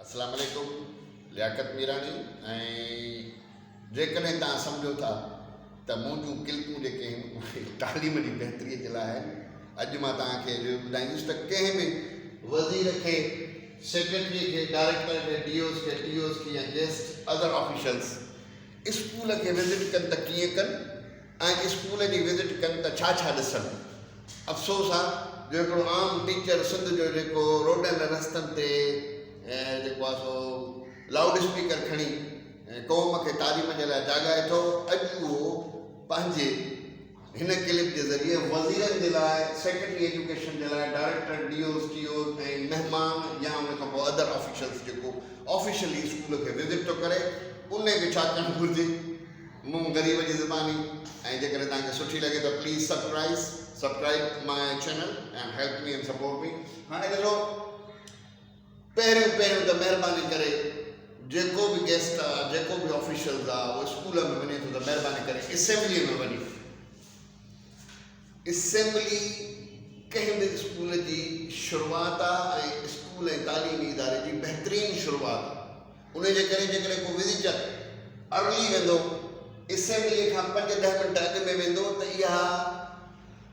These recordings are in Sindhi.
اسلام عليڪم لياقت ميراڻي ۽ جيڪڏهن توهان سمجهو ٿا ته مون جون ڪلپون جيڪي آهن اهي تعليم جي بهتري جي لاء آهن اڄ مان توهان کي اهو ٻڌائيندس ته ڪنهن به وزير کي سيڪريٽري کي ڊائريڪٽر کي ڊي اوز کي ٽي اوز کي يا گيسٽ ادر آفيشلز اسڪول کي وزٽ ڪن ته ڪيئن ڪن ۽ اسڪول جي وزٽ ڪن ته ڇا ڇا ڏسن. افسوس آ جو هڪڙو عام ٽيچر سنڌ جو جيڪو روڊن رستن تي جيڪو آ سو لائوڊ اسپيڪر کڻي قوم کي تعليم جي لاء جاڳائي ٿو اڄ اهو پنهنجي هن ڪلپ جي ذريعي وزيرن جي لاء سيڪريٽري ايجوڪيشن جي لاء director D Os T Os ۽ مهمان يا ان کان پوء ادر آفيشلز جيڪو آفيشلي اسڪول کي وزٽ ٿو ڪري انهي کي ڇا ڪرڻ گهرجي. مون غريب جي زباني ۽ جيڪڏهن توهان کي سٺي لڳي ته please subscribe Subcribe my channel and help me and support me هاڻي ڏسو پهريون پهريون ته مهرباني ڪري جيڪو به گيسٽ آ جيڪو به آفيشلز آ اهو اسڪول ۾ وڃي ٿو ته مهرباني ڪري اسيمبلي ۾ وڃي اسيمبلي ڪنهن به اسڪول جي شروعات آ ۽ اسڪول ۽ تعليمي اداري جي بهترين شروعات انهيء جي ڪري جيڪڏهن ڪو وزيٽر ارلي ويندو، اسيمبليء کان پنج ڏهه منٽ اڳ ۾ ويندو ته اها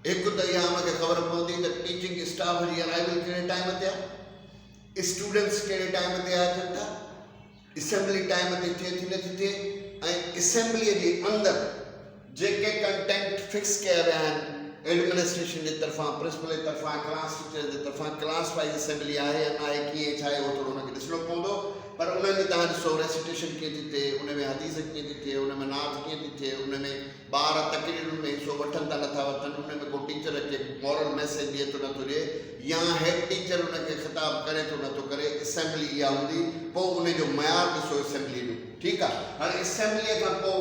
هڪ ته اها ان کي خبر پوندي ته ٽيچنگ اسٽاف جي ارائيول ڪهڙي ٽائيم تي آهي، اسٽوڊنٽس ڪهڙي ٽائيم تي اچن ٿا، اسيمبلي ٽائيم تي ٿئي ٿي نٿي ٿئي ۽ اسيمبليء جي اندر. جيڪي ڪنٽينٽ فڪس ڪيا ويا آهن ايڊمنسٽريشن جي طرفان پرنسپل جي طرفان ڪلاس ٽيچرس جي طرفان ڪلاس وائيز اسيمبلي آهي يا ناهي ڪيئن ڇا آهي اهو ٿورو ان کي ڏسڻو پوندو پر انهن جي تهان ڏسو ريسٽيشن ڪيئن ٿي ٿئي ان ۾ حديث ڪيئن ٿي ٿئي ان ۾ نعت ڪيئن ٿي ٿئي ان ۾ ٻار تقريرن ۾ حصو وٺن ٿا نٿا وٺن ان ۾ ڪو ٽيچر کي مورل ميسيج ڏئي ٿو نٿو ڏئي يا هيڊ ٽيچر ان کي خطاب ڪري ٿو نٿو ڪري اسيمبلي اها هوندي پوء ان جو معيار ڏسو اسيمبلي جو ٺيڪ آهي هاڻي اسيمبلي کان پوء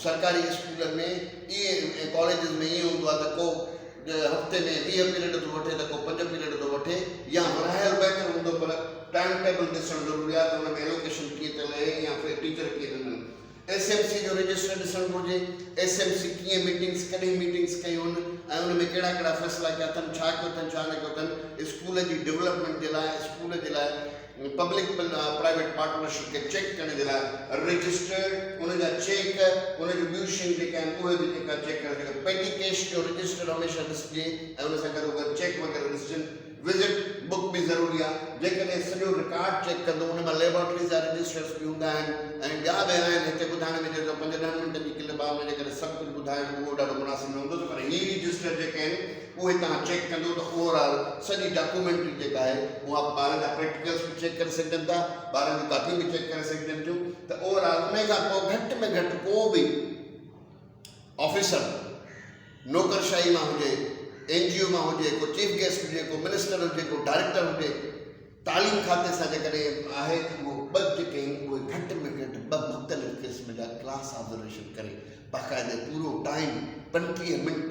سرڪاري اسڪولن ۾ ائين ۽ ڪاليجز ۾ ائين هوندو آهي ته ڪو هفتي ۾ ويهه پيريڊ ٿو وٺي ته ڪو پنج پيريڊ ٿو وٺي يا ورهايل بهتر هوندو پر ٽائيم ٽيبل ڏسڻ ضروري آهي ته ان ۾ ايلوڪيشن ڪيئن ٿيل اهي يا پھر ٽيچر ڪيئن ڏنل ايس ايم سي جو رجسٽر ڏسڻ گهرجي ايس ايم سي ڪيئن ميٽنگس ڪڏهن ميٽنگس ڪيون ۽ ان ۾ ڪهڙا ڪهڙا فيصلا ڪيا اٿن ڇا ڪيو اٿن ڇا نه ڪيو اٿن اسڪول جي ڊولپمينٽ جي لاء اسڪول جي لاء پبلڪ پرائيويٽ پارٽنرشپ کي چيڪ ڪرڻ جي لاء رجسٽرڊ ان جا چيڪ ان جون ٻيون شيون جيڪي آهن اهي به جيڪا چيڪ ڪرڻ جيڪا پيٽي ڪيش جو رجسٽرڊ هميشه ڏسجي ۽ ان سان گڏو گڏ چيڪ وغيره ڏسجن وزٽ بڪ به ضروري آهي جيڪڏهن سڄو رڪارڊ چيڪ ڪندو ان مان ليبارٽريز جا رجسٽرز به هوندا آهن ۽ ٻيا به آهن هتي ٻڌائڻ ۾ جيڪو پنج ڏهن منٽن جي ڪلپ آهي ان جي ڪري سڀ ڪجهه ٻڌائڻ اهو ڏاڍو مناسب نه هوندو ته پر هي رجسٽر جيڪي آهن اهي توهان چيڪ ڪندو ته اوور آل سڄي ڊاڪومينٽري جيڪا آهي اها ٻارن جا پريڪٽيڪلس به چيڪ ڪري سگهجن ٿا، ٻارن جون ڪاپيون به چيڪ ڪري سگهجن ٿيون ته اوور آل انهي کان پوء گهٽ ۾ گهٽ ڪو به آفيسر نوڪرشاهي مان هجي، اين جي او مان هجي، ڪو چيف گيسٽ هجي، ڪو منسٽر هجي، ڪو ڊائريڪٽر هجي، تعليم کاتي سان جيڪڏهن آهي ته اهو ٻه جيڪي آهن اهي گهٽ ۾ گهٽ ٻه مختلف قسم جا ڪلاس آبزرويشن ڪري باقاعدي پورو ٽائيم پنٽيهه منٽ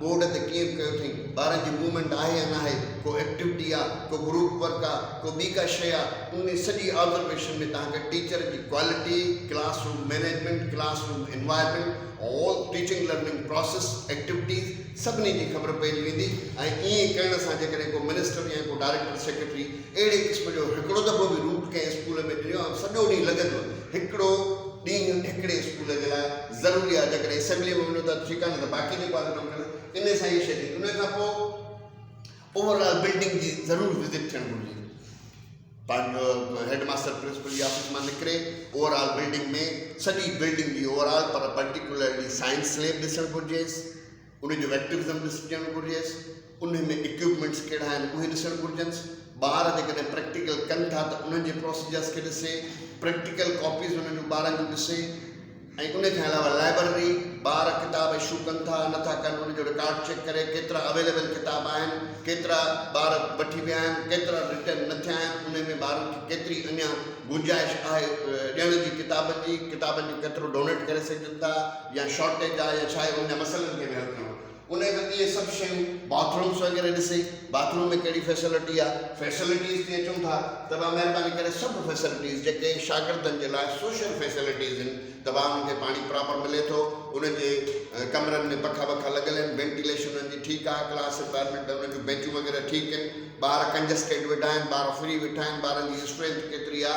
بورڊ تي ڪيئن به ڪيو اٿئين. ٻارن جي موومينٽ آهي يا ناهي، ڪو ايڪٽويٽي آ، ڪو گروپ ورڪ آ، ڪو ٻي ڪا شيء آ، انهي سڄي آبزرويشن ۾ توهان کي ٽيچر جي quality, classroom management, classroom environment, all teaching learning process, activities سڀني جي خبر پئجي ويندي ۽ ائين ڪرڻ سان جيڪڏهن ڪو منسٽر يا ڪو ڊائريڪٽر سيڪريٽري اهڙي قسم جو هڪڙو دفعو به روٽ ڪنهن اسڪول ۾ ڏنو ۽ سڄو ڏينهن لڳندو هڪڙو ڏينهن هڪڙي اسڪول جي لاء ضروري آهي جيڪڏهن اسيمبليء ۾ وڃو ٿا ته ٺيڪ آهي نه ته باقي جيڪو آهي ڪم ڪريو ان سان هي شيء ٿي ان کان پوء اوور آل بلڊنگ جي ضرور وزٽ ٿيڻ گهرجي هيڊ ماستر پرنسپل جي آفيس مان نڪري اوور آل بلڊنگ ۾ سڄي بلڊنگ جي اوور آل پر پرٽيڪولرلي سائنس ليب ڏسڻ گهرجيس ان جو ايڪٽوزم ڏسجڻ گهرجيس، انهي ۾ اڪيوپمينٽس ڪهڙا آهن اهي ڏسڻ گهرجنس، ٻار جيڪڏهن پريڪٽيڪل ڪن ٿا ته انهن جي پروسيجرس کي ڏسي، پريڪٽيڪل ڪاپيز انهن جون ٻارن جون ڏسي ۽ انهي کان علاوه لائبرري، ٻار ڪتاب اشو ڪن ٿا نه ٿا ڪن ان جو رڪارڊ چيڪ ڪري، ڪيترا اويليبل ڪتاب آهن، ڪيترا ٻار وٺي ويا آهن، ڪيترا رٽرن نه ٿيا آهن، انهي ۾ ٻارن کي ڪيتري اڃان گنجائش آهي ڏيڻ جي ڪتابن جي، ڪتابن جو ڪيترو ڊونيٽ ڪري سگهجن ٿا. يا شارٽيج آ يا ڇا آهي ان جا مسئلن کي به حل ڪرڻو ان کان اڳ اهي سڀ شيون باٿ رومس وغيره ڏسي باٿ روم ۾ ڪهڙي فيسلٽي آ فيسلٽيز تي اچون ٿا ته ڀا مهرباني ڪري سڀ فيسلٽيز جيڪي شاگردن جي لاء سوشل فيسلٽيز ان ته ڀا انهن کي پاڻي پراپر ملي ٿو انهن جي ڪمرن ۾ پکا وکا لڳل ان وينٽيليشن انهن جي ٺيڪ آ ڪلاس انوائرمينٽ انهن جون بينچون وغيره ٺيڪ ان ٻار ڪنجسٽيڊ ويٺا آهن ٻار فري ويٺا آهن ٻارن جي اسٽرينٿ ڪيتري آ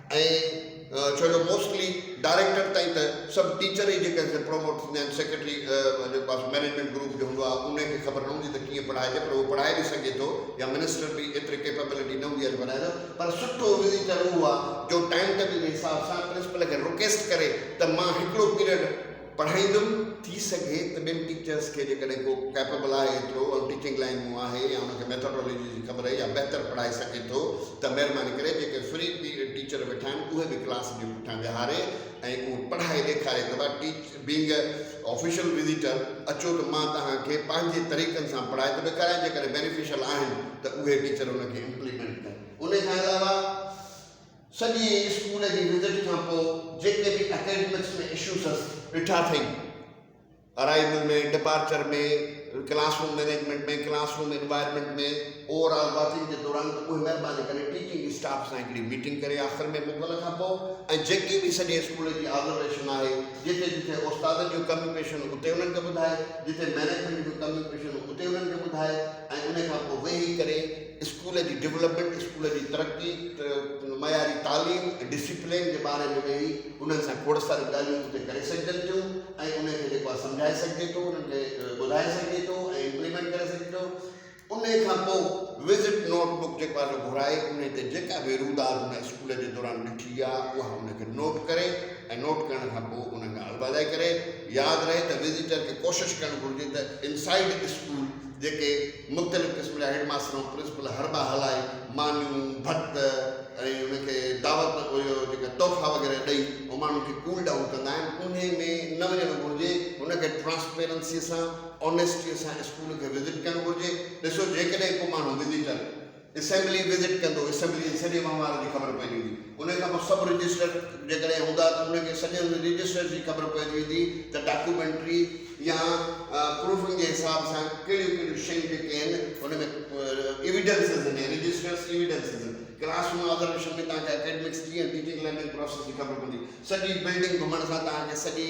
۽ ڇو جو موسٽلي ڊائريڪٽر تائين ته سڀ ٽيچر ئي جيڪي سي پروموٽ ٿيندا آهن سيڪريٽري جيڪو آهي سو مئنيجمينٽ گروپ جو هوندو آهي ان کي خبر نه هوندي ته ڪيئن پڙهائجي پر اهو پڙهائي به سگهي ٿو يا منسٽر به ايتري ڪيپيبلٽي نه هوندي آهي جو پڙهائي سگهي پر سٺو وزيٽر اهو آهي جو ٽائيم ٽيبل جي حساب سان پرنسپل کي رڪيسٽ ڪري ته مان هڪڙو پيريڊ پڙهائيندم، ٿي سگهي ته ٻين ٽيچرس کي جيڪڏهن ڪو ڪيپبل آهي ايترو ۽ ٽيچنگ لائين مون آهي يا ان کي ميٿاڊالوجي جي خبر يا بهتر پڙهائي سگهي ٿو ته مهرباني ڪري جيڪي فري ٽيچر ويٺا آهن اهي به ڪلاس جي پٺيان ويهاري ۽ اهو پڙهائي ڏيکاري ته ڀا teach being a official visitor اچو ته مان توهان کي پنهنجي طريقن سان پڙهائي ته ڏيکاريان جيڪڏهن بينيفيشل آهن ته اهي ٽيچر ان کي امپليمينٽ ڪن ان کان علاوه سڄي اسڪول جي وزٽ کان پوء جيڪي به اڪيڊمڪس ۾ اشوز ڏٺا اٿئي، arrival ۾، departure ۾، classroom management ۾، classroom environment ۾، overall watching جي دوران ته اهي مهرباني ڪري ٽيچنگ اسٽاف سان هڪڙي ميٽنگ ڪري آخر ۾ موڪل کان پوء ۽ جيڪي به سڄي اسڪول جي آبزرويشن آهي جتي جتي استادن جون ڪميون پيشيون آهن اتي انهن کي ٻڌائي، جتي مينيجمينٽ جون ڪميون پيشيون آهن اتي انهن کي ٻڌائي ۽ ان کان پوء ويهي ڪري اسڪول جي ڊولپمينٽ، اسڪول جي ترقي، معياري تعليم ۽ ڊسيپلين جي باري ۾ ويهي انهن سان کوڙ ساريون ڳالهيون اتي ڪري سگهجن ٿيون ۽ انهن کي جيڪو آهي سمجهائي سگهجي ٿو انهن کي ٻڌائي سگهجي ٿو ۽ امپليمينٽ ڪري سگهجي ٿو انهي کان پوء وزٽ نوٽ بڪ جيڪو آهي سو گهرائي انهي تي جيڪا به روداد ان اسڪول جي دوران ڏٺي آهي اها انهن کي نوٽ ڪري ۽ نوٽ ڪرڻ کان پوء انهن کان البادائي ڪري ياد رهي ته وزٽر کي ڪوشش ڪرڻ گهرجي ته انسائيڊ اسڪول جيڪي مختلف قسم جا هيڊ ماستر ۽ پرنسپل حربا هلائي مانيون، ڀت ۽ ان کي دعوت اهو جيڪا تحفا وغيره ڏئي ۽ ماڻهن کي ڪول ڊائون ڪندا آهن انهي ۾ نه وڃڻ گهرجي ان کي ٽرانسپيرنسي سان، آنيسٽي سان اسڪول کي وزٽ ڪرڻ گهرجي ڏسو جيڪڏهن ڪو ماڻهو وزيٽر. اسيمبلي وزٽ ڪندو، اسيمبلي جي سڄي وهنوار جي خبر پئجي ويندي، انهيء کان پوء سب رجسٽر جيڪڏهن هوندا ته انهن کي سڄن رجسٽرز جي خبر پئجي ويندي ته ڊاڪيومينٽري يا پروفنگ جي حساب سان ڪهڙيون ڪهڙيون شيون جيڪي آهن ان ۾ ايويڊنسز آهن يا رجسٽرز ايويڊنسز آهن. ڪلاس روم آبزرويشن ۾ توهان کي اڪيڊمڪس ٽي ۽ ٽيچنگ لرننگ پروسيس جي خبر پوندي. سڄي بلڊنگ گهمڻ سان توهان کي سڄي.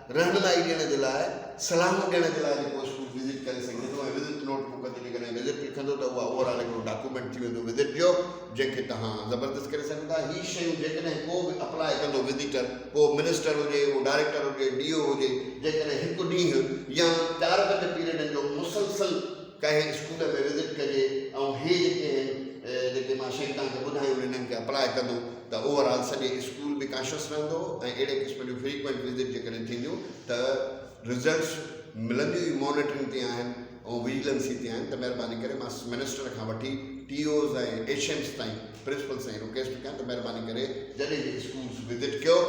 رهنمائي ڏيڻ جي لاء صلاحون ڏيڻ جي لاء جي پوسٽون وزٽ ڪري سگهي ٿو ۽ وزٽ نوٽ بڪ تي جيڪڏهن وزٽ لکندو ته اها اوور آل هڪڙو ڊاڪومينٽ ٿي ويندو وزٽ جو جنهن کي توهان زبردست ڪري سگهو ٿا هي شيون جيڪڏهن ڪو به اپلاء ڪندو وزيٽر ڪو منسٽر هجي اهو ڊائريڪٽر هجي ڊي او هجي جيڪڏهن هڪ ڏينهن يا چار پنج پيريڊن جو مسلسل ڪنهن اسڪول ۾ وزٽ ڪجي ۽ هي جيڪي آهن جيڪي مان شيون توهان کي ٻڌايون هن انهن کي اپلاء ڪندو ته اوور آل سڄي اسڪول به ڪاشس رهندو ۽ اهڙي قسم جون فريڪوئنٽ وزٽ جيڪڏهن ٿينديون ته رزلٽس ملنديون ئي مانيٽرنگ تي آهن ۽ وجيلنسي تي آهن ته مهرباني ڪري مان منسٽر کان وٺي ٽي اوز ۽ ايڇ ايمز تائين پرنسپل سائين رڪويسٽ ٿو ڪيان ته مهرباني ڪري جڏهن به اسڪولس وزٽ ڪيو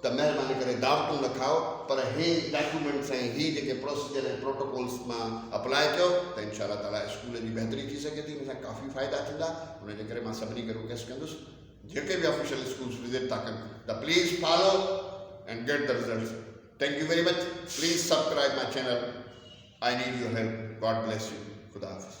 ته مهرباني ڪري دعوتون نه کائو پر هي ڊاڪيومينٽس ۽ هي جيڪي پروسيجر ۽ پروٽوڪولس مان اپلاء ڪيو ته انشاء الله تعالي اسڪول جي بهتري ٿي سگهي ٿي ان سان ڪافي فائدا ٿيندا ان جي ڪري مان سڀني کي رڪويسٽ ڪندس جيڪي به آفيشل اسڪولس وزٽ ٿا ڪن ته پليز فالو اينڊ گيٽ ته results thank you very much please subscribe my channel I need your help God bless you خدا حافظ.